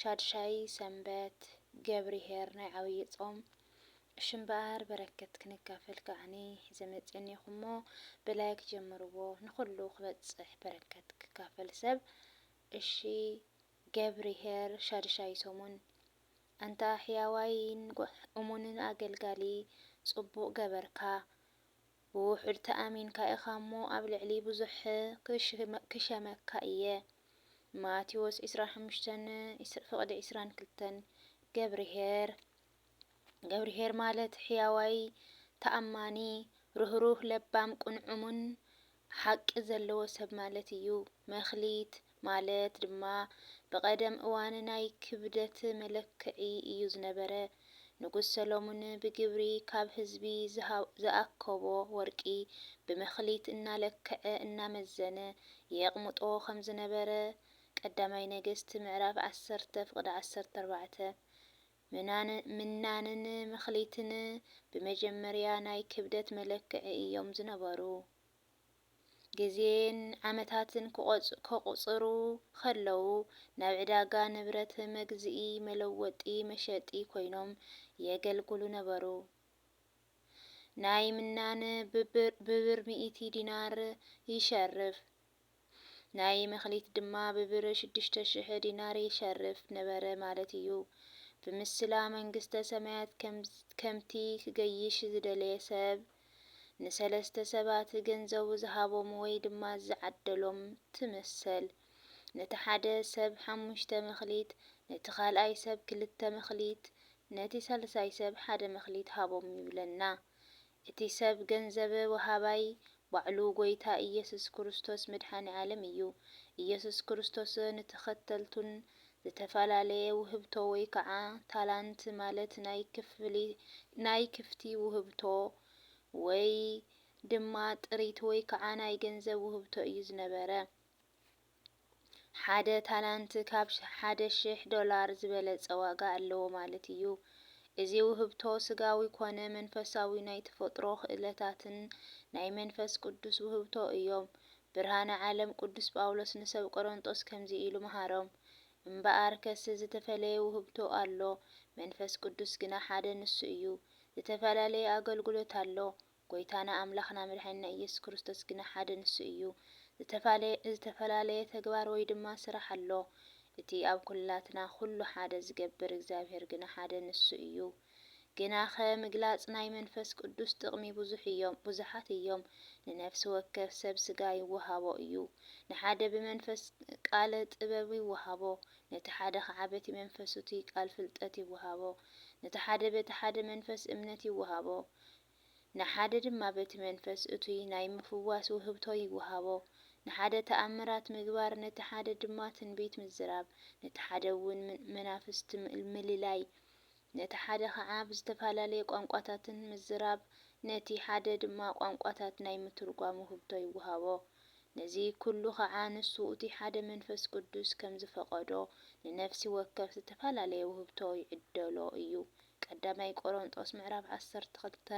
ሻድሻይ ሰንበት ገብርሄር ናይ ዓብዪ ጾም እሺ እምበኣር በረከት ክንካፈል ከዓኒ ሒዘ መጺኤኒኹ እሞ ብላይክ ጀምርዎ ንኹሉ ክበጽሕ በረከት ክካፈል ሰብ እሺ ገብርሄር ሻድሻይ ሰሙን ኣንታ ሕያዋይን እሙንን ኣገልጋሊ ጽቡቅ ገበርካ ብውሑድ ተኣሚንካ ኢኻ እሞ ኣብ ልዕሊ ብዙሕ ክሸመካ እየ ማቴዎስ ዕስራን ሓሙሽተን ፍቕዲ ዕስራን ክልተን ገብርሄር ገብርሄር ማለት ሕያዋይ ተኣማኒ ርህሩህ ለባም ቅኑዕ እሙን ሓቂ ዘለዎ ሰብ ማለት እዩ መክሊት ማለት ድማ ብቐደም እዋን ናይ ክብደት መለክዒ እዩ ዝነበረ። ንጉስ ሰሎሙን ብግብሪ ካብ ህዝቢ ዝኣከቦ ወርቂ ብመክሊት እናለክዐ እናመዘነ የቕምጦ ከም ዝነበረ ቀዳማይ ነገስት ምዕራፍ ዓሰርተ ፍቕዲ ዓሰርተ ኣርባዕተ። ምናንን መክሊትን ብመጀመርያ ናይ ክብደት መለክዒ እዮም ዝነበሩ። ግዜን ዓመታትን ከቑጽሩ ኸለዉ፣ ናብ ዕዳጋ ንብረት መግዝኢ፣ መለወጢ፣ መሸጢ ኰይኖም የገልግሉ ነበሩ። ናይ ምናን ብብር ሚእቲ ዲናር ይሸርፍ፣ ናይ መክሊት ድማ ብብር ሽዱሽተ ሽሕ ዲናር ይሸርፍ ነበረ ማለት ኢዩ። ብምስላ መንግስተ ሰማያት ከምቲ ክገይሽ ዝደለየ ሰብ ንሰለስተ ሰባት ገንዘቡ ዝሃቦም ወይ ድማ ዝዓደሎም ትምሰል። ነቲ ሓደ ሰብ ሓሙሽተ መክሊት፣ ነቲ ካልኣይ ሰብ ክልተ መክሊት፣ ነቲ ሳልሳይ ሰብ ሓደ መክሊት ሃቦም ይብለና። እቲ ሰብ ገንዘብ ወሃባይ ባዕሉ ጎይታ ኢየሱስ ክርስቶስ መድሓኒ ዓለም እዩ። ኢየሱስ ክርስቶስ ንተኸተልቱን ዝተፈላለየ ውህብቶ ወይ ከዓ ታላንት ማለት ናይ ክፍሊ ናይ ክፍቲ ውህብቶ ወይ ድማ ጥሪት ወይ ከዓ ናይ ገንዘብ ውህብቶ እዩ ዝነበረ። ሓደ ታላንት ካብ ሓደ ሽሕ ዶላር ዝበለፀ ዋጋ ኣለዎ ማለት እዩ። እዚ ውህብቶ ስጋዊ ኮነ መንፈሳዊ ናይ ተፈጥሮ ክእለታትን ናይ መንፈስ ቅዱስ ውህብቶ እዮም። ብርሃነ ዓለም ቅዱስ ጳውሎስ ንሰብ ቆሮንጦስ ከምዚ ኢሉ መሃሮም፣ እምበኣርከስ ዝተፈለየ ውህብቶ ኣሎ፣ መንፈስ ቅዱስ ግና ሓደ ንሱ እዩ፣ ዝተፈላለየ ኣገልግሎት ኣሎ፣ ጐይታና ኣምላኽና መድሓኒና ኢየሱስ ክርስቶስ ግና ሓደ ንሱ እዩ፣ ዝተፈላለየ ተግባር ወይ ድማ ስራሕ ኣሎ፣ እቲ ኣብ ኵላትና ኵሉ ሓደ ዝገብር እግዚኣብሔር ግና ሓደ ንሱ እዩ። ግናኸ ምግላጽ ናይ መንፈስ ቅዱስ ጥቕሚ ብዙሕ እዮም ብዙሓት እዮም። ንነፍሲ ወከፍ ሰብ ስጋ ይወሃቦ እዩ። ንሓደ ብመንፈስ ቃለ ጥበብ ይወሃቦ፣ ነቲ ሓደ ኸዓ በቲ መንፈሱቲ ቃል ፍልጠት ይወሃቦ፣ ነቲ ሓደ በቲ ሓደ መንፈስ እምነት ይወሃቦ፣ ንሓደ ድማ በቲ መንፈስ እቱይ ናይ ምፍዋስ ውህብቶ ይወሃቦ። ንሓደ ተኣምራት ምግባር፣ ነቲ ሓደ ድማ ትንቢት ምዝራብ፣ ነቲ ሓደ እውን መናፍስቲ ምልላይ፣ ነቲ ሓደ ኸዓ ብዝተፈላለየ ቋንቋታትን ምዝራብ፣ ነቲ ሓደ ድማ ቋንቋታት ናይ ምትርጓም ውህብቶ ይወሃቦ። ነዚ ኩሉ ኸዓ ንሱ እቱይ ሓደ መንፈስ ቅዱስ ከምዝፈቐዶ ንነፍሲ ወከፍ ዝተፈላለየ ውህብቶ ይዕደሎ እዩ። ቀዳማይ ቆሮንጦስ ምዕራፍ ዓሰርተ ክልተ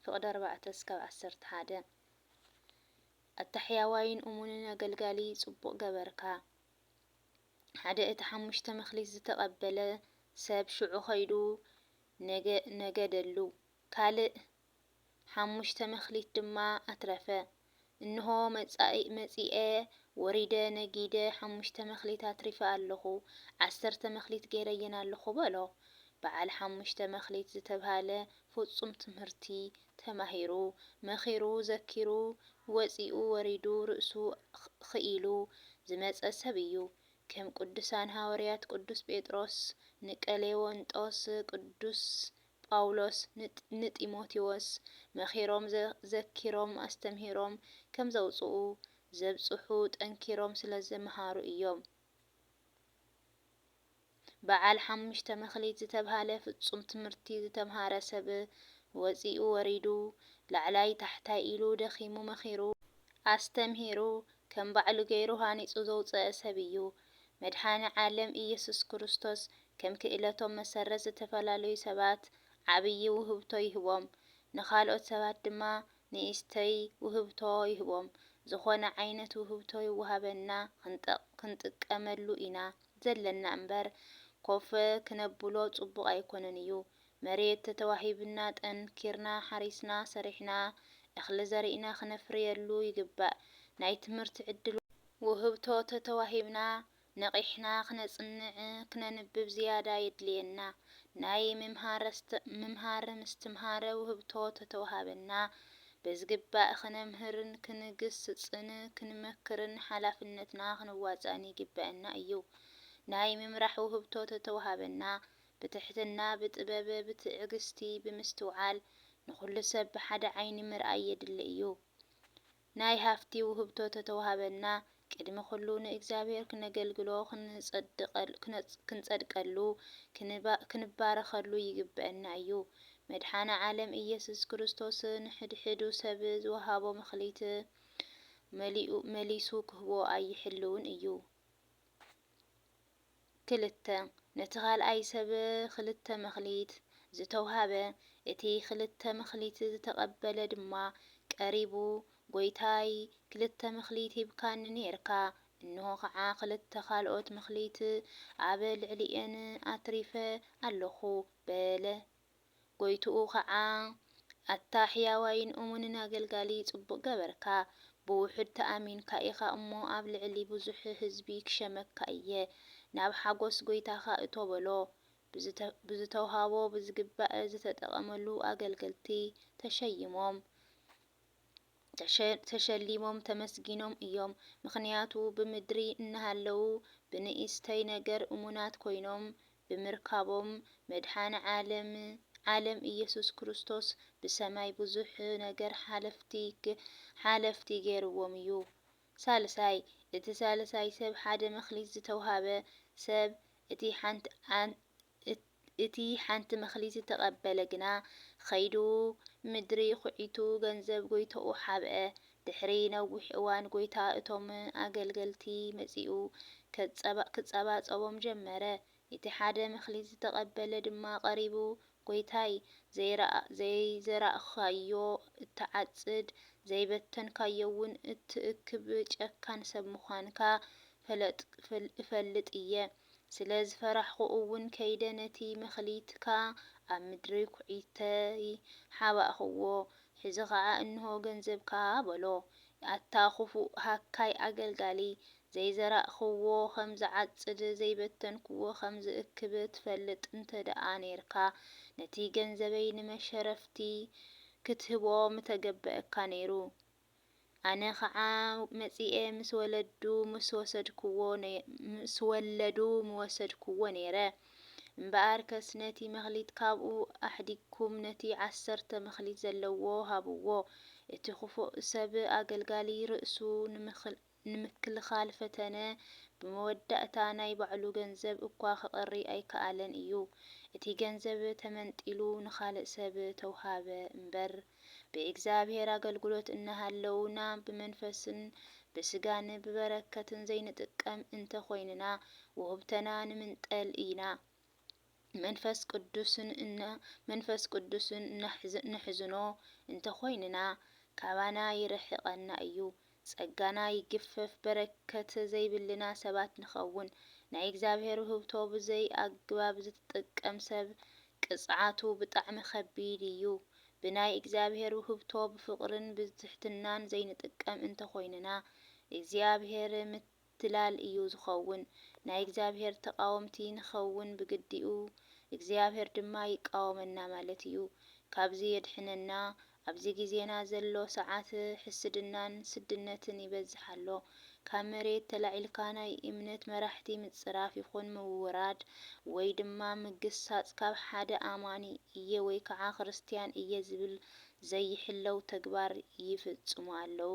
ፍቅዲ ኣርባዕተ እስካብ ዓሰርተ ሓደ ኣታ ሕያዋይን እሙንን ኣገልጋሊ ጽቡቅ ገበርካ ሓደ እቲ ሓሙሽተ መክሊት ዝተቀበለ ሰብ ሽዑ ከይዱ ነገደሉ ካልእ ሓሙሽተ መክሊት ድማ ኣትረፈ። እንሆ መጺኤ ወሪደ ነጊደ ሓሙሽተ መክሊት ኣትሪፈ ኣሎኹ፣ ዓሰርተ መክሊት ገይረየን ኣሎኹ በሎ። በዓል ሓሙሽተ መክሊት ዝተብሃለ ፍጹም ትምህርቲ ተማሂሩ፣ መኺሩ፣ ዘኪሩ፣ ወጺኡ ወሪዱ ርእሱ ኽኢሉ ዝመጸ ሰብ እዩ። ከም ቅዱሳን ሃወርያት ቅዱስ ጴጥሮስ፣ ንቀሌዎንጦስ፣ ቅዱስ ጳውሎስ ንጢሞቴዎስ መኺሮም ዘኪሮም ኣስተምሂሮም ከም ዘውጽኡ ዘብጽሑ ጠንኪሮም ስለ ዝመሃሩ እዮም። በዓል ሓሙሽተ መክሊት ዝተብሃለ ፍጹም ትምህርቲ ዝተምሃረ ሰብ ወጺኡ ወሪዱ ላዕላይ ታሕታይ ኢሉ ደኺሙ መኺሩ ኣስተምሂሩ ከም ባዕሉ ገይሩ ሃኒጹ ዘውጸኣ ሰብ እዩ። መድሓኒ ዓለም እየሱስ ክርስቶስ ከም ክእለቶም መሰረት ዝተፈላለዩ ሰባት ዓብዪ ውህብቶ ይህቦም ንካልኦት ሰባት ድማ ንእሽተይ ውህብቶ ይህቦም። ዝኾነ ዓይነት ውህብቶ ይወሃበና ክንጥቀመሉ ኢና ዘለና እምበር ኮፍ ክነብሎ ጽቡቕ ኣይኮነን እዩ መሬት ተተዋሂቡና ጠንኪርና ሓሪስና ሰሪሕና እኽሊ ዘሪእና ክነፍርየሉ ይግባእ። ናይ ትምህርቲ ዕድል ውህብቶ ተተዋሂብና ነቒሕና ክነፅንዕ ክነንብብ ዝያዳ የድልየና። ናይ ምምሃር ምስትምሃር ውህብቶ ተተውሃበና በዝግባእ ክነምህርን ክንግስፅን ክንመክርን ሓላፍነትና ክንዋፃእን ይግበእና እዩ። ናይ ምምራሕ ውህብቶ ተተውሃበና ብትሕትና፣ ብጥበብ፣ ብትዕግስቲ፣ ብምስትውዓል፣ ንኹሉ ሰብ ብሓደ ዓይኒ ምርኣይ የድሊ እዩ። ናይ ሃፍቲ ውህብቶ ተተዋህበና፣ ቅድሚ ኩሉ ንእግዚኣብሔር ክነገልግሎ፣ ክንጸድቀሉ፣ ክንባረኸሉ ይግበእና እዩ። መድሓነ ዓለም ኢየሱስ ክርስቶስ ንሕድሕዱ ሰብ ዝወሃቦ መክሊት መሊሱ ክህቦ ኣይሕልውን እዩ። ክልተ፣ ነቲ ካልኣይ ሰብ ክልተ መክሊት ዝተውሃበ፣ እቲ ክልተ መክሊት ዝተቐበለ ድማ ቀሪቡ፣ ጐይታይ፣ ክልተ መክሊት ሂብካኒ ኔርካ፣ እንሆ ኸዓ ክልተ ካልኦት መክሊት ኣብ ልዕሊኤን ኣትሪፈ ኣሎኹ፣ በለ። ጐይትኡ ኸዓ፣ ኣታ ሕያዋይን እሙንን ኣገልጋሊ፣ ጽቡቕ ገበርካ፣ ብውሑድ ተኣሚንካ ኢኻ እሞ፣ ኣብ ልዕሊ ብዙሕ ህዝቢ ክሸመካ እየ፣ ናብ ሓጐስ ጐይታኻ እቶ በሎ። ብዝተውሃቦ ብዝግባእ ዝተጠቐመሉ ኣገልገልቲ ተሸይሞም፣ ተሸሊሞም፣ ተመስጊኖም እዮም። ምኽንያቱ ብምድሪ እናሃለዉ ብንእስተይ ነገር እሙናት ኮይኖም ብምርካቦም መድሓኒ ዓለም ዓለም ኢየሱስ ክርስቶስ ብሰማይ ብዙሕ ነገር ሓለፍቲ ሓለፍቲ ገይርዎም እዩ። ሳልሳይ እቲ ሳልሳይ ሰብ ሓደ መክሊት ዝተውሃበ ሰብ እቲ ሓንቲ እቲ ሓንቲ መክሊት ዝተቀበለ ግና ኸይዱ ምድሪ ኹዒቱ ገንዘብ ጎይቶኡ ሓብአ ድሕሪ ነዊሕ እዋን ጐይታ እቶም ኣገልገልቲ መጺኡ ክጸባጸቦም ጀመረ። እቲ ሓደ መክሊት ዝተቐበለ ድማ ቀሪቡ፣ ጐይታይ፣ ዘይዘራእካዮ እትዓጽድ፣ ዘይበተንካዮውን እትእክብ ጨካን ሰብ ምዃንካ እፈልጥ እየ። ስለ ዝፈራሕኩ እውን ከይደ ነቲ መክሊትካ ኣብ ምድሪ ኵዒተይ ሓባእክዎ። ሕዚ ኸዓ እንሆ ገንዘብካ በሎ። ኣታ ኽፉእ ሃካይ ኣገልጋሊ! ዘይዘራእክዎ ኸም ዝዓጽድ፣ ዘይበተንክዎ ኸም ዝእክብ ትፈልጥ እንተ ደኣ ኔርካ፣ ነቲ ገንዘበይ ንመሸረፍቲ ኽትህቦ ምተገበኣካ ነይሩ። ኣነ ኸዓ መጺኤ ምስ ወለዱ ምስ ወሰድኩዎ ምስ ወለዱ ምወሰድኩዎ ነይረ እምበኣርከስ ነቲ መክሊት ካብኡ ኣሕዲግኩም ነቲ ዓሰርተ መክሊት ዘለዎ ሃብዎ እቲ ክፉእ ሰብ ኣገልጋሊ ርእሱ ንምክልኻል ፈተነ፣ ብመወዳእታ ናይ ባዕሉ ገንዘብ እኳ ከቕሪ ኣይከኣለን እዩ። እቲ ገንዘብ ተመንጢሉ ንኻልእ ሰብ ተውሃበ እምበር፣ ብእግዚኣብሔር ኣገልግሎት እናሃለውና ብመንፈስን ብሥጋን ብበረከትን ዘይንጥቀም እንተ ኾይንና ውህብተና ንምንጠል ኢና። መንፈስ ቅዱስ እነሕዝኖ እንተ ዀይንና፣ ካባና ይርሕቐና እዩ። ጸጋና ይግፈፍ፣ በረከት ዘይብልና ሰባት ንኸውን። ናይ እግዚኣብሔር ውህብቶ ብዘይ ኣግባብ ዝጥቀም ሰብ ቅጽዓቱ ብጣዕሚ ከቢድ እዩ። ብናይ እግዚኣብሔር ውህብቶ ብፍቕርን ብትሕትናን ዘይንጥቀም እንተ ዀይንና፣ እግዚኣብሔር ምትላል እዩ ዝኸውን። ናይ እግዚኣብሔር ተቃወምቲ ንኸውን ብግዲኡ እግዚኣብሔር ድማ ይቃወመና ማለት እዩ። ካብዚ የድሕነና ኣብዚ ግዜና ዘሎ ሰዓት ሕስድናን ስድነትን ይበዝሕ ኣሎ። ካብ መሬት ተላዒልካ ናይ እምነት መራሕቲ ምጽራፍ ይኹን ምውራድ ወይ ድማ ምግሳጽ ካብ ሓደ ኣማኒ እየ ወይ ከዓ ክርስትያን እየ ዝብል ዘይሕለው ተግባር ይፍጽሙ ኣለው።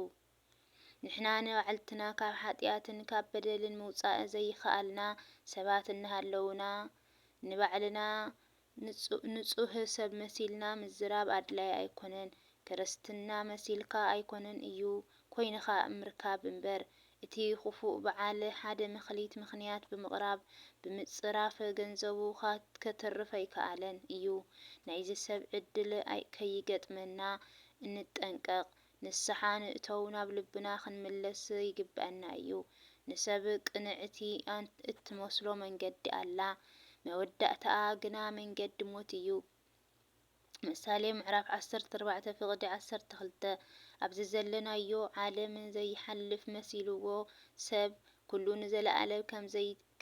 ንሕና ንባዕልትና ካብ ሓጢኣትን ካብ በደልን ምውጻእ ዘይከኣልና ሰባት እናሃለውና፣ ንባዕልና ንጹህ ሰብ መሲልና ምዝራብ ኣድላዪ ኣይኮነን። ክርስትና መሲልካ ኣይኮነን እዩ፣ ኮይንኻ ምርካብ እምበር። እቲ ክፉእ በዓል ሓደ መክሊት ምኽንያት ብምቕራብ፣ ብምጽራፍ ገንዘቡ ከትርፍ ኣይከኣለን እዩ። ናይዚ ሰብ ዕድል ከይገጥመና እንጠንቀቕ፣ ንስሓ ንእተው ናብ ልብና ክንምለስ ይግበኣና እዩ። ንሰብ ቅንዕቲ እትመስሎ መንገዲ ኣላ መወዳእታኣ ግና መንገዲ ሞት እዩ። ምሳሌ ምዕራፍ ዓሰርተ ኣርባዕተ ፍቅዲ ዓሰርተ ክልተ ኣብዚ ዘለናዮ ዓለም ዘይሓልፍ መሲልዎ ሰብ ኩሉ ንዘለኣለም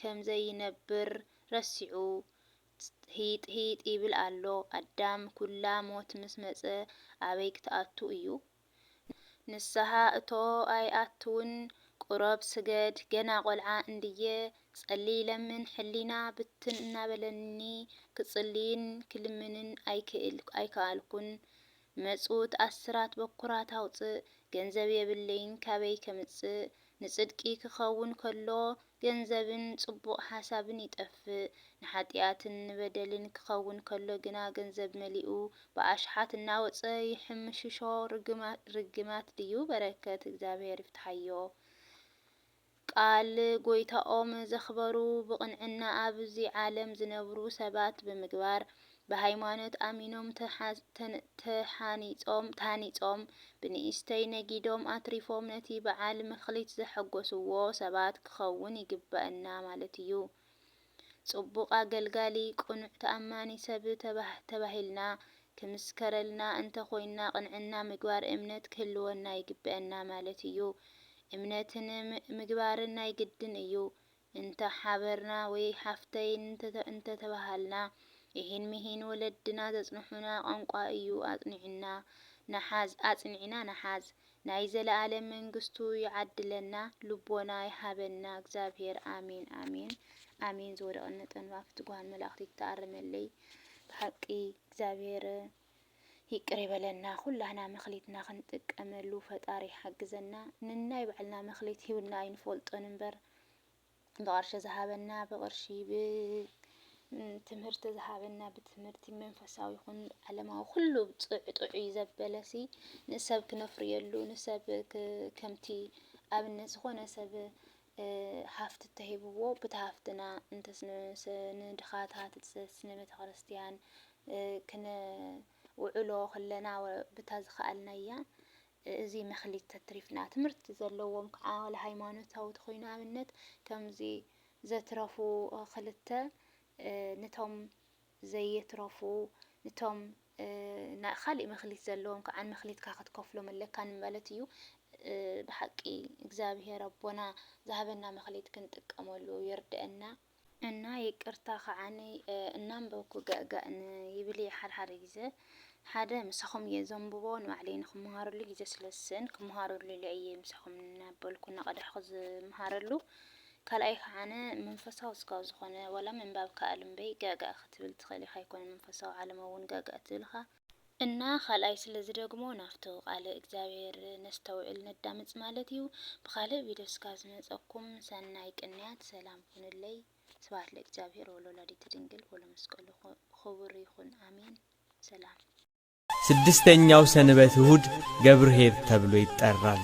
ከምዘይነብር ረሲዑ ጽሒጥሒጥ ይብል ኣሎ ኣዳም ኩላ ሞት ምስ መጸ ኣበይ ክትኣቱ እዩ ንስሃ እቶ ኣይኣትውን ቁረብ ስገድ ገና ቆልዓ እንድየ ጸልይ ለምን ሕሊና ብትን እናበለኒ ክጽልይን ክልምንን ኣይክኣልኩን መጽውት ኣስራት በኩራት ኣውጽእ፣ ገንዘብ የብለይን ካበይ ከምጽእ፣ ንጽድቂ ክኸውን ከሎ ገንዘብን ጽቡቕ ሓሳብን ይጠፍእ፣ ንሓጥያትን ንበደልን ክኸውን ከሎ ግና ገንዘብ መሊኡ ብኣሽሓት እናወጸ ይሕምሽሾ፣ ርግማት ድዩ በረከት እግዚኣብሔር ይፍትሓዮ። ቃል ጎይታኦም ዘኽበሩ ብቕንዕና ኣብዚ ዓለም ዝነብሩ ሰባት ብምግባር ብሃይማኖት ኣሚኖም ተሓኒጾም ተሃኒጾም ብንእሽተይ ነጊዶም ኣትሪፎም ነቲ በዓል መክሊት ዘሐጎስዎ ሰባት ክኸውን ይግበእና ማለት እዩ ጽቡቕ ኣገልጋሊ፣ ቅኑዕ ተኣማኒ ሰብ ተባሂልና ክምስከረልና እንተ ኾይንና ቅንዕና ምግባር እምነት ክህልወና ይግበእና ማለት እዩ። እምነትን ምግባርን ናይ ግድን እዩ። እንተ ሓበርና ወይ ሓፍተይ እንተ ተባሃልና ኢሂን ምሂን ወለድና ዘጽንሑና ቋንቋ እዩ ኣጽኒዕና ንሓዝ ኣጽኒዕና ንሓዝ ናይ ዘላኣለም መንግስቱ ይዓድለና ልቦና ይሃበና እግዚኣብሔር ኣሜን ኣሜን ኣሜን ዝወደቀኒ ጠንፋፍት ጓል መላእክት ይተኣረመለይ ብሓቂ እግዚኣብሔር ይቅር ይበለና ኩላህና መክሊትና ክንጥቀመሉ ፈጣሪ ይሓግዘና ንናይ ባዕልና መክሊት ሂብና ኣይንፈልጦን እምበር ብቐርሺ ዝሃበና ብቕርሺ ብ ትምህርቲ ዝሃበና ብትምህርቲ መንፈሳዊ ይኹን ዓለማዊ ኩሉ ጥዑ ጥዑይ ዘበለሲ ንሰብ ክነፍርየሉ ንሰብ ከምቲ ኣብነት ዝኾነ ሰብ ሃፍቲ ተሂብዎ ብቲ ሃፍትና እንተስ ንድኻታት እንተስ ንቤተ ክርስቲያን ክነውዕሎ ከለና ብታ ዝኸኣልናያ እዚ መክሊት ተትሪፍና ትምህርቲ ዘለዎም ክዓ ዋላ ሃይማኖታዊ ተኮይኑ ኣብነት ከምዚ ዘትረፉ ክልተ ንቶም ዘየትረፉ ንቶም ካሊእ መክሊት ዘለዎም ክዓ መክሊትካ ክትከፍሎም ኣለካ ንማለት እዩ ብሓቂ እግዚኣብሔር ኣቦና ዝሃበና መክሊት ክንጥቀመሉ ይርደእና። እና ይቅርታ ክዓኒ እናንበብኩ ገእገእ ን ይብል እየ ሓደ ሓደ ግዘ ሓደ ምሳኹም እየ ዘንብቦ ንባዕለይ ንክመሃረሉ ግዘ ስለ ዝስእን ክመሃረሉ ኢለ እየ ምሳኹም እናበልኩ እናቀዳሕኩ ዝመሃረሉ ካልኣይ ክዓነ መንፈሳዊ እስካብ ዝኾነ ዋላ ምንባብ ክኣል እምበይ ገእገእ ክትብል ትኽእል ኢኻ ኣይኮነን መንፈሳዊ ዓለም እውን ገእገእ ትብልኻ እና ካልኣይ ስለ ዝደግሞ ናፍቱ ቃለ እግዚኣብሔር ነስተውዕል ነዳምፅ ማለት እዩ ብካልእ ቪድዮ እስካ ዝመፀኩም ሰናይ ቅንያት ሰላም ይኩንለይ ስብሃት ለእግዚኣብሔር ወለወላዲቱ ድንግል ወለመስቀሉ ኹቡር ይኩን ኣሜን ሰላም። ስድስተኛው ሰንበት እሁድ ገብርኄር ተብሎ ይጠራል።